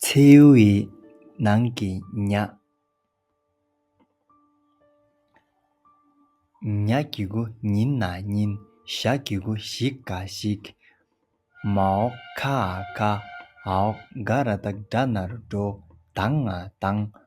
མཚེའུ་ཡི་ནང་གི་ཉག་གི་གུ་ཉིན་ན་ཉིན་ཞག་གི་གུ་ཞིག་ག་ཞིག། མ་འོག་ཁ་ཨ་ཁ་ཨོག་དགའ་ར་དག་སྒྲ་ནར་འགྲོ་དྭངས་ཨ་དྭངས།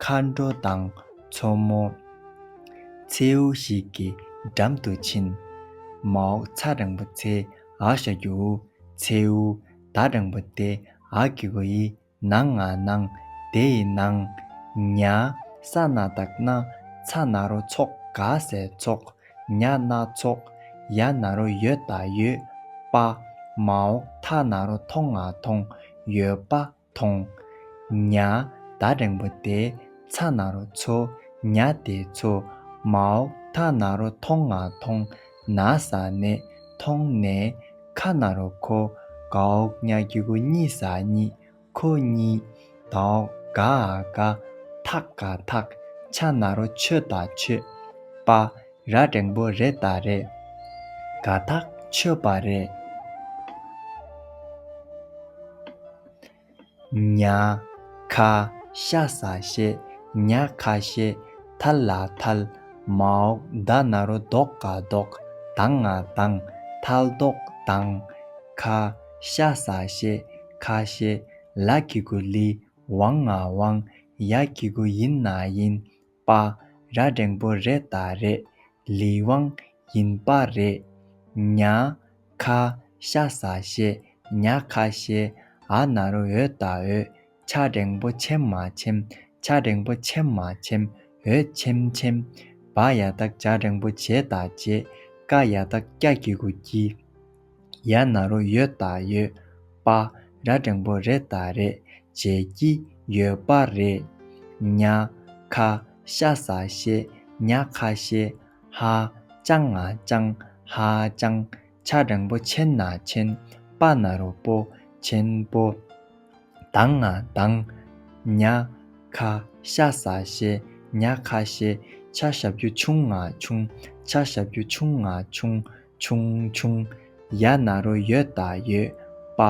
མཁའ་འགྲོ་དང་མཚོ་མོ། མཚེའུ་ཞིག་གི་འགྲམ་དུ་ཕྱིན། མ་འོག་ཚ་རིང་པོ་ཚེ་འག་ཤ་རྒྱུ། མཚེའུ་ད་རིང་པོ་དེ་འག་གི་བུ་ཡི་ནང་ང་སྣང། དེ་ཡི་ནང། ཉ། ས་སྣ་དག་སྣ། ཚ་སྣ་རོ་ཚོགས་ག་ཟེ་ཚོགས། ཉ་སྣ་ཚོགས། ཡ་སྣ་རོ་ཡོད་ད་ཡོད། པ། མ་འོག་ཐ་སྣ་རོ་ཐོང་ང་ཐོང། ཡོད་པ། མཐོང། ཉྭ། ད་རེང་བོ་དེ་ཚ་ན་རོ་འཚོ། ཉྭ་དེ་འཚོ། མའོ། ད་ན་རོ་མཐོང་ང་མཐོང། ན་ཟ་ནས། མཐོང་ནས། ཁ་ན་རོ་ཁོ། གའོ། ཉྭ་གི་གོ་གཉིས་ཟ་གཉིས། ཁོ་གཉིས། དའོ། ག་ཨ་ག། ཐག་ག་ཐག། ཆ་ན་རོ་ཆོད་ད་ཆོད། པ། ར་བསྒྲེང་པོ་རེ་ད་རེད། དགའ་ཐག་ཆོད་པ་རེད། ཉག་ཁ་ཤ་ཟ་ཤེས་ཉག་ཁ་ཤེས། ཐལ་ལ་ཐལ། མ་འོག་ད་ན་རོ་ལྡོག་ག་ལྡོག། དང་ང་དང། ཐལ་ལྡོག་དང། ཁ་ཤ་ཟ་ཤེས་ཁ་ཤེས། ལ་གི་གུ་ལི་ཝང་ང་ཝང། ཡ་གི་གུ་ཡིན་ན་ཡིན། པ་ར་འགྲེང་པོ་རེད་ད་རེད་ལི་ཝང་ཡིན་པ་རེད་ཉག་ཁ་ཤ་ཟ་ཤེས་ཉག་ཁ་ཤེས་ཨ་ན་རུ་འོད་ད་འོད་ཆ་འགྲེང་པོ་ཆེམ་མ་ཆེམ་ཆ་འགྲེང་པོ་ཆེམ་མ་ཆེམ་འོད་ཆེམ་ཆེམ་བ་ཡ་ད་ཀྱ་འགྲེང་པོ་བྱེད་ད་བྱེད་ཀ་ཡ་ད་ཀྱ་གྱི་གུ་གྱི། ཡང་ན་རོ་ཡོད་ད་ཡོད། པ་ར་འགྲེང་པོ་རེད་ད་རེད། བྱེད་ཀྱི་ཡོད་པ་རེད། ཉག་ཁ་ཤ་ཟ་ཤེས་ཉག་ཁ་ཤེས། ཧ་ཅང་ང་ཅང་ཧ་ཅང། ཆ་འགྲེང་པོ་ཆེན་ན་ཆེན། པ་ན་རོ་པོ་ཆེན་པོ། དང་ང་དང། ཉག་ཁ་ཤ་ཟ་ཤེས་ཉག་ཁ་ཤེས། ཆ་ཞབས་རྒྱུ་ཆུང་ང་ཆུང། ཆ་ཞབས་རྒྱུ་ཆུང་ང་ཆུང། ཆུང་ཆུང། ཡ་ན་རོ་ཡོད་ད་ཡོད། པ་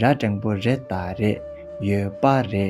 ར་འགྲེང་པོ་རེད་ད་རེད། ཡོད་པ་རེད།